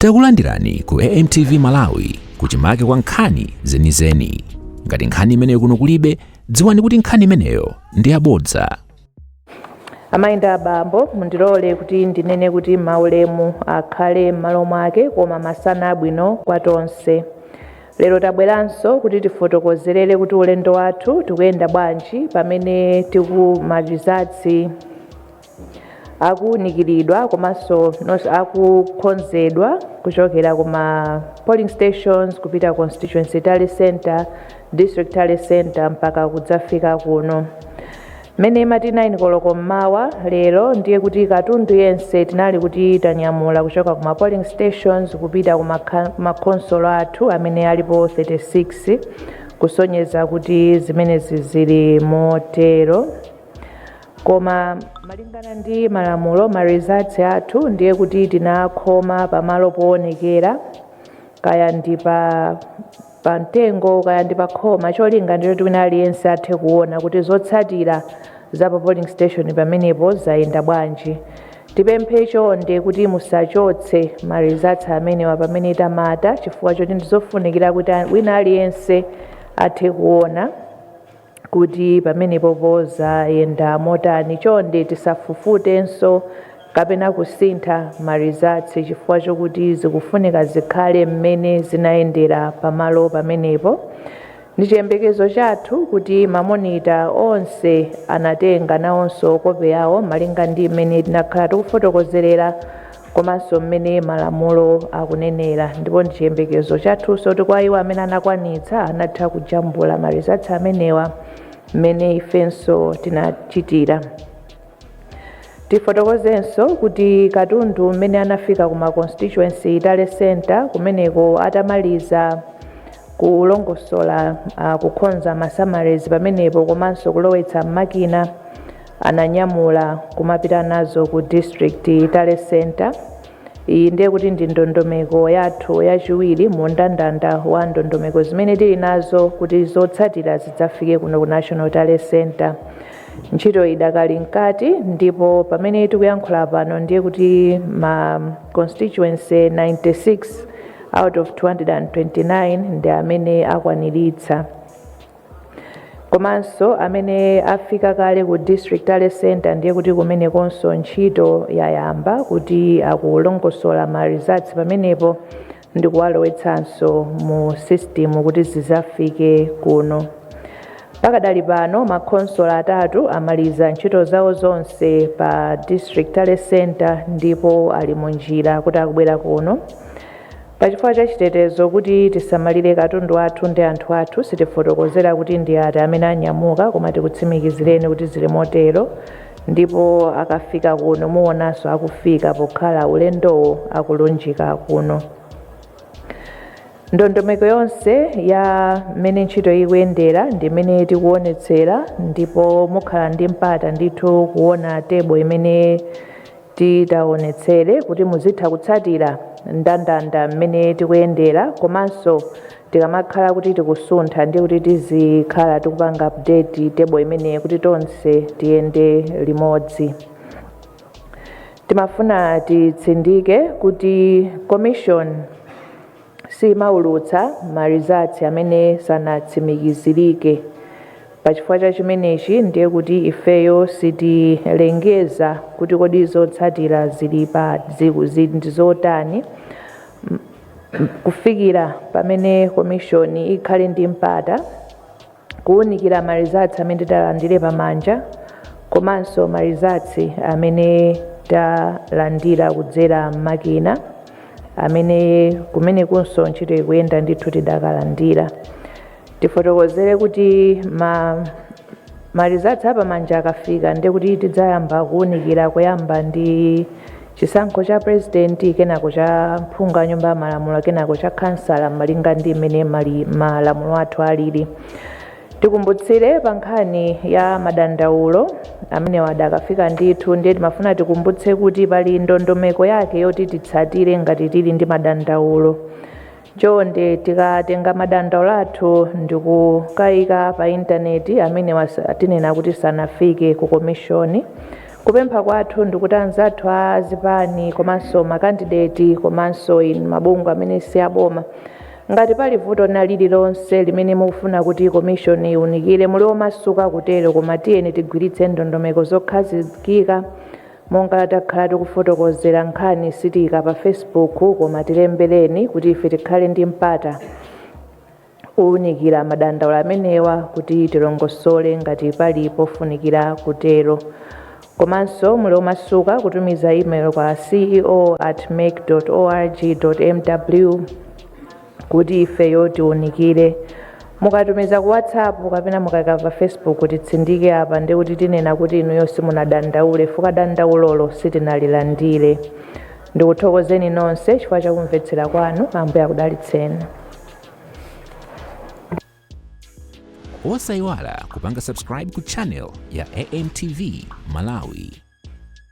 Takulandirani ku AMTV Malawi kuchimake kwa nkhani zenizeni. Ngati nkhani imeneyo kuno kulibe, dziwani kuti nkhani imeneyo ndi yabodza. amayi ndi abambo mundilole kuti ndinene kuti maulemu akhale m'malo mwake koma masana abwino kwa tonse lero tabweranso kuti tifotokozerere kuti ulendo wathu tikuyenda bwanji pamene tikumalizatsi akuunikiridwa komanso akukonzedwa kuchokera kuma polling stations kupita constituency tally center district tally center mpaka kudzafika kuno mmene imati 9 koloko mmawa lero ndiye kuti katundu yense tinali kuti tanyamula kuchoka kuma polling stations kupita kuma ka- kuma khonsolo athu amene alipo 36 kusonyeza kuti zimenezi zili motero Koma malingana ndi malamulo ma results athu ndiye kuti tinakhoma pamalo poonekera kaya ndi pa pa mtengo kaya ndi pa khoma cholinga ndi choti wina aliyense athe kuona kuti zotsatira za pa polling station pamenepo zayenda bwanji tipemphe chonde kuti musachotse ma results amenewa pamene tamata chifukwa choti ndizofunikira kuti wina aliyense athe kuona kuti pamenepopo zayenda motani chonde tisafufutenso kapena kusintha ma results chifukwa chokuti zikufunika zikhale mmene zinayendera pamalo pamenepo. Ndichiyembekezo chathu kuti ma monitor onse anatenga nawonso kope yawo malinga ndi mmene tinakhala tikufotokozerera komanso mmene malamulo akunenera ndipo ndi chiyembekezo chathunso kuti kwa iwo amene anakwanitsa anatha kujambula ma results amenewa mmene ifenso tinachitira tifotokozenso kuti katundu mmene anafika ku ma constituency tally center kumeneko atamaliza kulongosola uh, kukhonza ma summaries pamenepo komanso kulowetsa m'makina ananyamula kumapita nazo ku district tally center iyi ndiye kuti ndi ndondomeko yathu yachiwiri mu ndandanda wa ndondomeko zimene tili nazo kuti zotsatira zidzafike kuno ku national tally center ntchito idakali mkati ndipo pamene tikuyankhula pano ndiye kuti ma constituency 96 out of 229 ndi amene akwaniritsa Komanso amene afika kale ku District Tally Centre ndiye kuti kumenekonso ntchito yayamba kuti akulongosola ma results pamenepo ndi kuwalowetsanso mu system kuti zizafike kuno. Pakadali pano makhonsolo atatu amaliza ntchito zawo zonse pa District Tally Centre ndipo ali mu njira kuti akubwera kuno. Pachifukwa cha chitetezo kuti tisamalire katundu athu ndi anthu athu sitifotokozera kuti ndi ati amene anyamuka koma tikutsimikizireni kuti zili motero ndipo akafika kuno muonanso akufika pokhala ulendowo akulunjika kuno. Ndondomeko yonse ya mmene ntchito ikuyendera ndi imene tikuonetsera ndipo mukhala ndi mpata ndithu kuona table imene Titaonetsere kuti muzitha kutsatira ndandanda mmene tikuyendera komanso tikamakhala kuti tikusuntha ndiye kuti tizikhala tikupanga update table imeneyi kuti tonse tiyende limodzi. Timafuna titsindike kuti Commission. siimaulutsa ma results amene sanatsimikizirike. Pa chifukwa cha chimenechi ndiye kuti ifeyo sitilengeza kuti kodi zotsatira zili pa ndi zotani kufikira pamene komishoni ikhale ndi mpata kuunikira ma results amene talandire pamanja komanso ma results amene talandira kudzera m'makina amene kumenekunso ntchito ikuyenda ndithu tidakalandira tifotokozere kuti ma results apamanja akafika ndekuti tidzayamba kuunikira kuyamba ndi Chisankho cha Prezidenti, kenako cha Phungu a Nyumba ya Malamulo kenako cha Khansala malinga ndi mmene malamulo athu alili. Tikumbutsire pa nkhani ya madandaulo amenewa adakafikabe ndithu ndiye timafuna tikumbutse kuti pali ndondomeko yake yoti titsatire ngati tili ndi madandaulo. Chonde tikatenga madandaulo athu ndikukaika pa intaneti amenewa tinena kuti sanafike ku komishoni. Kupempha kwathu ndikuti anzathu a zipani komanso makandideti komanso inu mabungwe amene si aboma ngati pali vuto lina lililonse limene mukufuna kuti komishoni iwunikire muli omasuka kutero koma tiyeni tigwiritse ndondomeko zokhazikika Monga takhala tikufotokozera nkhani sitiika pa Facebook koma tilembereni kuti ife tikhale ndi mpata owunikira madandaulo amenewa kuti tilongosole ngati pali pofunikira kutero. Komanso muli omasuka kutumiza email kwa ceo at mec org mw. kuti ifeyo tiunikire mukatumiza ku whatsapp kapena mukaika pa facebook titsindike apa ndi kuti tinena kuti inuyo simunadandaule fuka dandaulolo sitinalilandire ndikuthokozeni nonse chifukwa chakumvetsera kwanu ambuye akudalitseni osayiwala kupanga subscribe ku channel ya amtv malawi